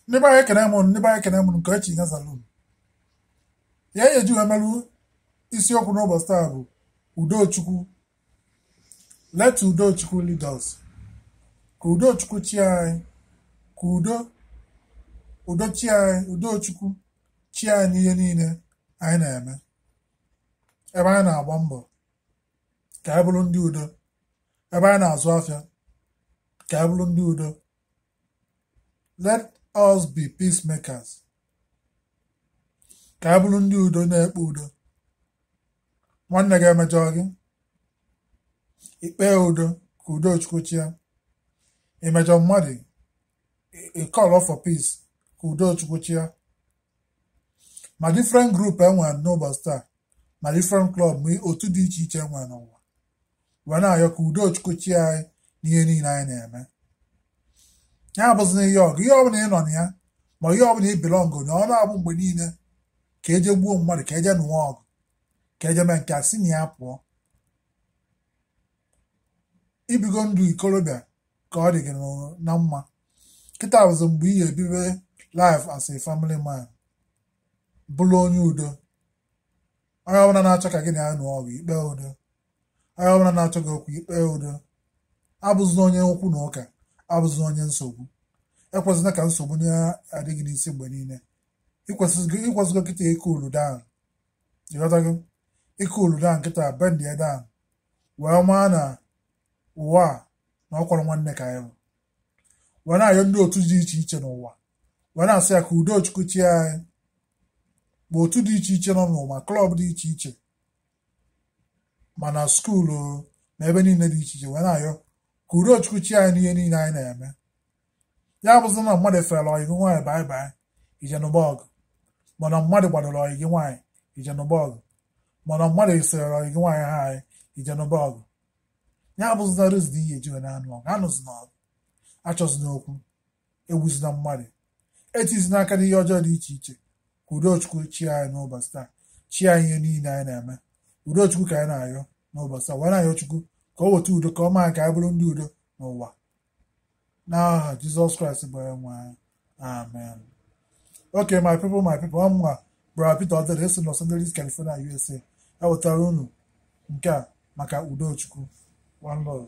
ndị be anyị ekene m unu ndị be anyị ekene m unu nke echi nyezalụ m ya ihe eji wee merụ isiokwu n'ụbọchị taa bụ udochukwu let udochukwu lead us ka udochukwu chịa anyị ka udo udo chịa anyị udochukwu chịa anyị n'ihe niile anyị na-eme ebe anyị na-agba mbọ ka anyị bụrụ ndị udo ebe anyị na-azụ afịa ka anyị bụrụ ndị udo let us be peacemakers ka anyị bụrụ ndị udo na-ekpe udo nwanne gị emejọ gị i kpee udo ka udo chukwu chịa i mejọọ mmadụ ị call for peace ka udo chukwu chịa ma different group enwere n'ụbọchị taa ma different club ma otu dị iche iche enwere n'ụwa wee na-ayọ ka udo chukwu chịa anyị n'ihe niile anyị na-eme ya abụzina ihe ọgụ ihe ọbụla ị nọ na ya ma ihe ọbụla ị bilọngụ na ọ na-abụ mgbe niile ka eje gbuo mmadụ ka eje nụwa ọgụ ka eje mee nke a si na ya pụọ ibigo ndụ ikorobịa ka ọ dị gị na mma kịta bụzi mgbe ị ga-ebibe life as a family man bụrụ onye udo onye ọbụla na-achọ ka gị na ya nụọ ọgụ i kpee udo onye ọbụla na-achọ gị okwu i kpee udo abụzina onye okwu na ụka abụzina onye nsogbu ekwezina ka nsogbu na-adị gị n'isi mgbe niile ịkwesịgo kịta ị cool down ịghọtago ị cool down kịta bend ya down wee maa na ụwa a na ọ kwọrọ nwanne ka anyị wee na-ayọ ndị otu dị iche iche n'ụwa wee na-asị ya ka udo chukwu chịa anyị ma otu dị iche iche nọ n'ụwa klọb dị iche iche ma na skuulu na ebe niile dị iche iche wee na-ayọ ka udo chukwu chịa anyị n'ihe niile anyị na-eme ya abụzi na mmadụ efere ọyị gị nwaanyị bye bye i je nụba ọgụ ma na mmadụ gbadoro ọyị gị nwaanyị i je nụba ọgụ ma na mmadụ asịrị ọyị gị nwaanyị hi i je nụba ọgụ ya abụzina reason ihe eji wee na-anụ ọgụ anụzina ọgụ achọzina okwu egbuzina mmadụ etizina aka n'ihe ọjọọ dị iche iche ka udochukwu chịa anyị n'ụbọchị taa chịa anyị ihe niile anyị na-eme udochukwu ka anyị na-ayọ n'ụbọchị taa wee na-ayọ chukwu ka o weta udo ka ọ maa ka anyị bụrụ ndị udo n'ụwa n'aha jizọs kraịst bụ onye nwe anyị amen ok my people my people ọ mụnwa brother peter odede esi los angeles california usa ewetara unu nke a maka udochukwu one love